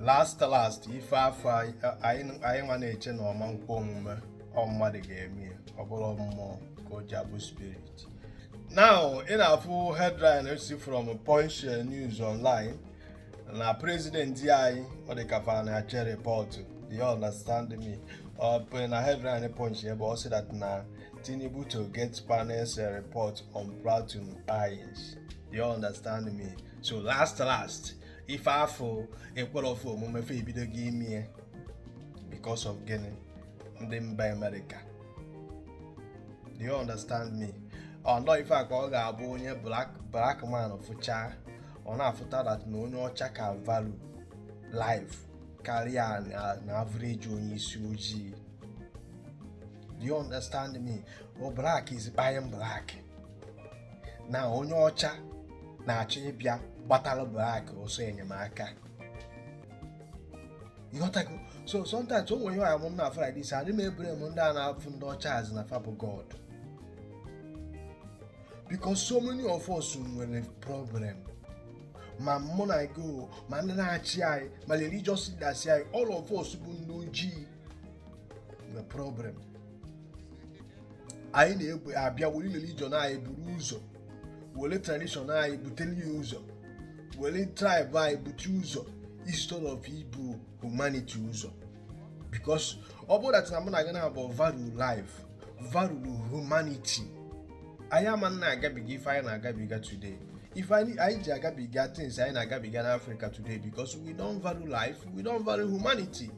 last last ife afụ anyị nwa na-eche na ọ ma nkwe omume ọ mmadụ ga-eme ya ọ bụrụ mmụọ ka o ji abụ spirit now ị na-afụ headline si from Punch News Online na president anyị ọ dị ka fa na-ache report you understand me ọ na headline Punch ebe ọ sị that na Tinubu to get panel's eh, report on Plateau killings you understand me so last last ife afụ ekwerọ fa omume fa ebidogo ime ya because of gịnị ndị mba America do you understand me ọnọ ife a ka ọ ga-abụ onye black black man fụcha ọ na-afụta that na onye ọcha ka value life karịa na average onye isi ojii do you understand me o black is kpai-ing black na onye ọcha na-achọ ịbịa gbatara black ọsọ enyemaka ịghọtago so sometimes o nwere ihe a m na-afụ like this adị m e-blame ndị a na-afụ ndị ọcha as in na fa bụ God because so many of us nwere problem ma mụ na gị ma ndị na-achị anyị ma religious leaders anyị all of us bụ ndị ojii nwere problem anyị na-egbe abịa were religion anyị buru ụzọ were tradition anyị butere ya ụzọ were tribe anyị bute ụzọ instead of ibu humanity ụzọ because ọ bụrụ that na mụ na gị naabọ value life value humanity anyị ama na-agabiga ife anyị na-agabiga today ife anyị ji agabiga things anyị na-agabiga n'Africa today because we don't value life we don't value humanity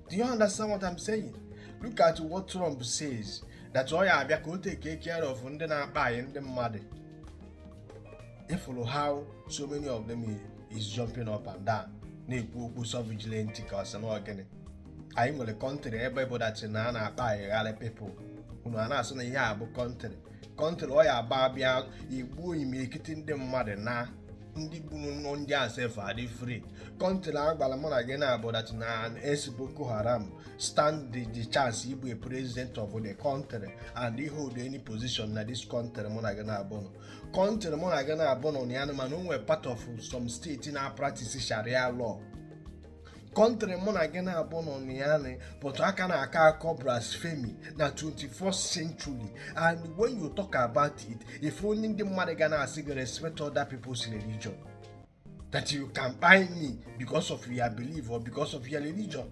do you understand what I'm saying look at what Trump says that ọ ya abịa ka o take care of ndị na-akpai ndị mmadụ ịfụrụ how so many of them is jumping up and down na-ekwu okwu sovereignty ka ọ sị na ọ gịnị anyị nwere country ebe bụ that na a na-akpaigharị people unu a na-asị na ihe a bụ country country ọ ya abụ a bịa igbuo imirikiti ndị mmadụ na ndị gburu nụ ndị a sef adị free country a gwara mụ na gị naabọ that na ex Boko Haram stand the chance ịbụ a president of the country and i-hold any position na this country mụ na gị naabọ nọ country mụ na gị naabọ nọ na ya mana o nwere part of some state na-apractice sharia law country mụ na gị naabọ nọ na ya nị but a ka na-akọ akọ blasphemy na 21st century and when you talk about it ife ndị ndị mmadụ ga na-asị gị respect other people's religion that you can kpai me because of your belief or because of your religion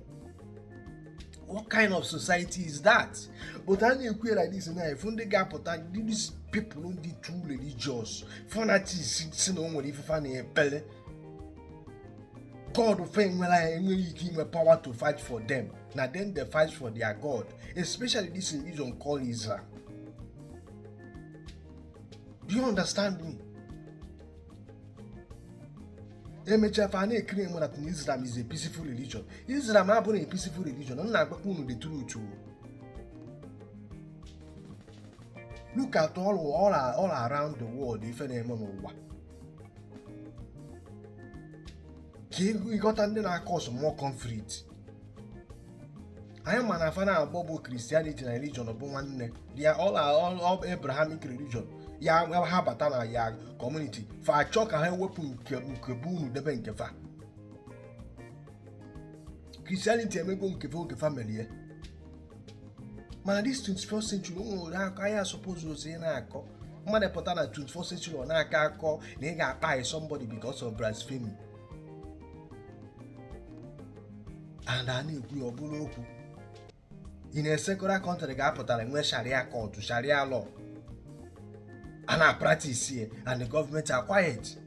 what kind of society is that but a na-ekwu like this na ị fụ ndị ga-apụta these people ndị too religious fanatics sị na o nwere ife fa na-ekpele God fa enwerọ enweghị ike inwe power to fight for them na them dey fight for their God especially this religion called Islam do you understand me? emechaa fa na-eclaim that Islam is a peaceful religion Islam abụghị a peaceful religion m na-agwakwa unu the truth look at all, all, all around the world ife na-eme n'ụwa ka ịghọta ndị na-acause more conflict anyị ma na fa naabọ bụ Christianity na religion bụ nwanne they are all Abrahamic religion ya ha bata na your community fa achọ ka ha ewepụ nke nke bụ unu debe nke fa Christianity emego nke fa oge fa merie mana this 21st century o nwere akọ anyị asupposerọzi ị na-akọ mmadụ pụta na 21st century ọ na-akọ akọ na ị ga-akpai somebody because of blasphemy and a na-ekwu ya ọ bụrụ okwu in a secular country ga-apụtara nwee Sharia court Sharia law a na-apractice and the government are quiet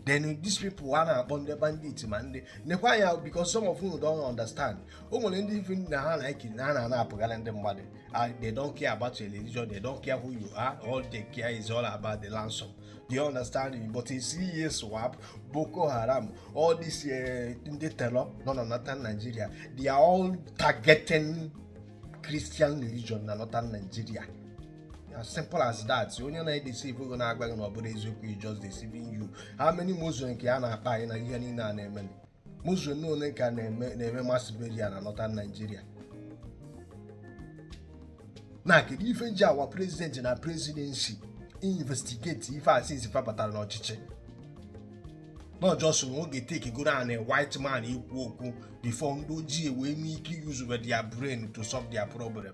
then these people a na-akpọ ndị bandit ma ndị nekwa anya because some of you don't understand o nwere ndị ife na ha na ike na ha na-apụgara ndị mmadụ ah, they don't care about your religion they don't care who you are all they care is all about the ransom do you understand me but you see ISWAP Boko Haram all this eh, ndị terror nọ na northern Nigeria they are all targeting Christian religion na northern Nigeria as simple as that onye na-edeceive gị na-agwa gị na ọ bụrọ eziokwu is just deceiving you how many Muslim ka a na-akpai na ihe niile a na-eme Muslim ole ka a na-eme mass burial na northern Nigeria na kedu ife ji our president na presidency investigate ife a since fa batara n'ọchịchị not just ọ ga-etake godu white man ikwu okwu before ndị ojii wee nwee ike use their brain to solve their problem